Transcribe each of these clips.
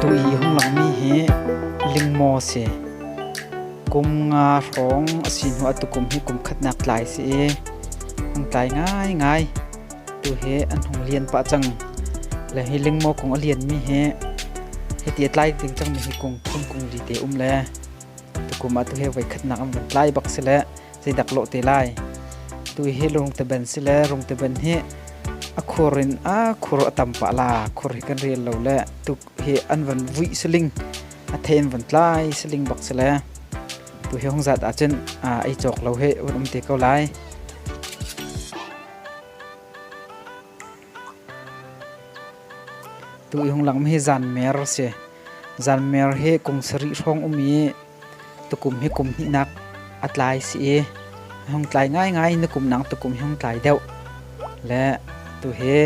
Tuhi hung langmi hi lingmaw si. Kum nga hrawng a si hnu a tukum hi kum khatnak tlai si i hung tlai ngaingai. Tu hi an hung lian pah cang. Le hi lingmaw kung a lianmi hi hiti a tlai ding cangmi hi kung thum kung li te um le tukum ah tu hi voi khatnak an vun tlai bak si le zeidak lawh te lai tu hi lungteban si le rungteban hi a khur in a khur a tam pah la khur hi kan rel lo le tuk hi an van vui siling a then van tlai siling bak si le tu hi hong zat ah cun ai chok lo he un um te ko lai Tu Ihung Lam hi Zanmer si. Zanmer hi kum sarih hrawng um i tukum hi kum hnihnak a tlai si i hung tlai ngaingai na kum nang tukum hi hung tlai deuh. Le tu hi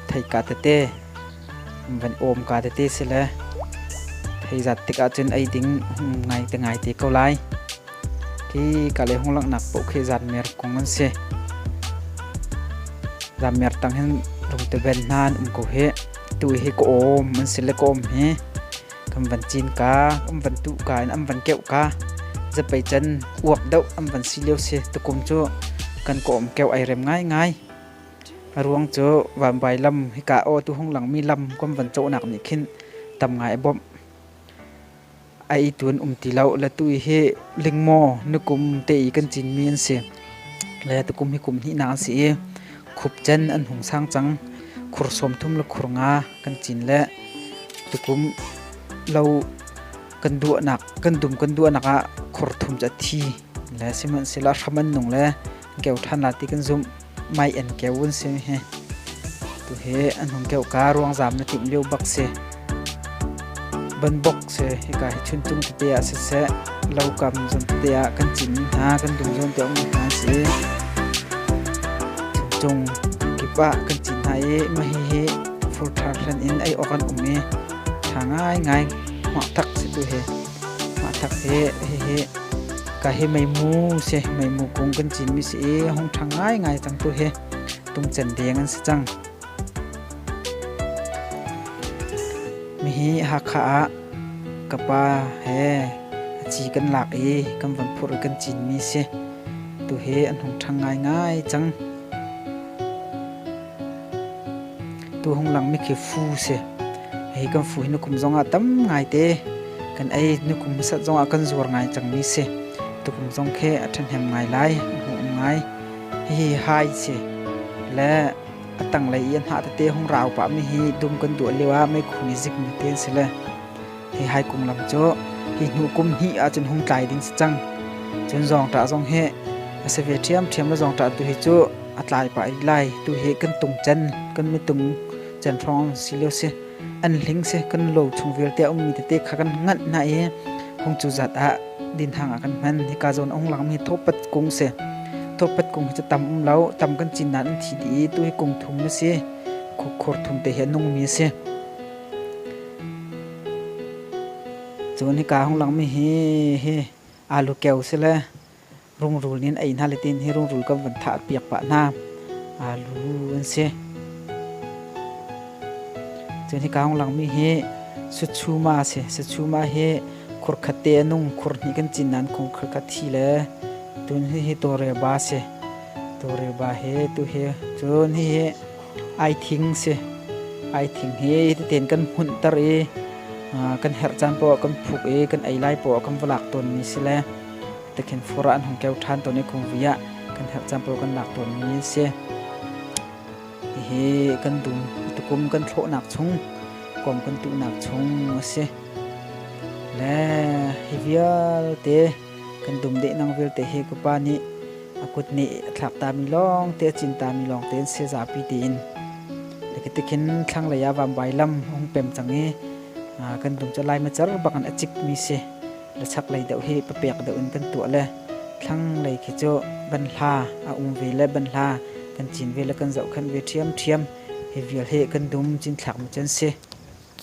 thei ka tete van om ka tete si le thei zat tik ahcun ei ding ngai te ngai te ko lai. Hi ka le hung langhnak paoh khi zan mer kung an si. Zan mer tang hin lungte ben hna an um ko hi. Tu hi ka om an si le ka om hi. Kan van cin ka, am van tu ka, am van keu ka. Zapei can uak dau am van si leo si. Tukum cu kan ka om keu ai rem ngai ngai. Ruang cu van bai lam hi ka o tu hung langmi lam kan van cawnak nih khin tam ngai bom. A itu an um ti lo. Latu i hi lingmaw nukum te i kan cinmi an si. Le tukum hi kum hnihnak an si i khupcan an hung sang cang. Khur sawm thum le khur nga kan cin le tukum lo kan duahnak kan dum kan duahnak ah khur thum cu a thi le sihmanhsehlaw hram an nung le keu ṭhan la ti kan zumh. Mai en keu an si hi. Tu hi an hung keu ka ruang zam na tim lio bak si. Banbok si hika hi chun tum tete ah si se lo kam zon tete ah kan cim hna kan dum zon te ong hna si. Cung kip ah kan cin hna i mahi hi furthar hlan in ai okan um i tha ngai ngai hma tak si tu hi. Mah thak hi hihi ka hi meimu si meimu kung kan cinmi si i hung ṭhang ngaingai cang tu hi tungcen deng an si cang. Mihi Hakha ah ka pa he a ci kan lak i kan von phur i kan cinmi si tu hi an hung ṭhang ngaingai cang. Tuhung langmi khi fu si. Hi kan fu hi nukum zongah tam ngaite kan ei. Nukum hmasat zongah kan zuar ngai cangmi si. Tukum zong khi a ṭhahnem ngai lai, a hmuhum ngai. Hihi hai si. Le a tanglei i an hah tete hung rau pahmi hi dum kan duah lioah meikhu nih zikmi te an si le. Hi hai kum lam cu hi hnu kum hnih ah cun hung tlai ding si cang. Cun zawngṭah zong hi a si ve ṭhiamṭhiam le zawngṭah tu hi cu a tlai pah rih lai. Tu hi kan tung can, kan mitung can hrawng si lio si. An hling si kan lo chung vialte a ummi tete kha kan nganh hna i hung cu zat ah dinhang ah kan hman. Hika zawn a hung langmi thawhpat kung si. Thawhpat kung hi cu tam um lo. Tam kan cin nain an thi dih i tu hi kung thum na si. Khukkhur thum te hi a nungmi a si. Cun hika hung langmi hi hi alu keu si le rungrul in ei hna le tiin hi rungrul kan van thah piak pah hna. Alu an si. Cun hika hung langmi hi sutchuma a si. Sutchuma hi khur khat te a nung. Khur hnih kan cin nain khur khat thi le tun hi hi tawreba a si. Tawreba hi tu hi cun hihi ai thing si. Ai thing hi teten kan hmunhter i kan herh caan poah kan phuk i kan ei lai poah kan va lak tawnmi si le tikhin fura an hung keu ṭhan tawn i kum vi ah kan herh caan poah kan lak tawnmi an si. Hihi kan dum tukum kan thlawhnak chung kom kan tuhnak chung a si. Le hi vialte kan dumdeh nang vialte he ka pa nih a kut nih a thlak tami lawngte a cin tami lawngte in sezapi tiin tikhin thlanglei ah vambai lam hung pem cang i kan dum cu lai macar bak in a cikmi si le chaklei deuh hi papek deuh in kan tuah le thlanglei khi cu ban hla a um ve le ban hla kan cin ve le kan zohkhenh ve ṭhiamṭhiam hi vial hi kan dum cinthlak mu can si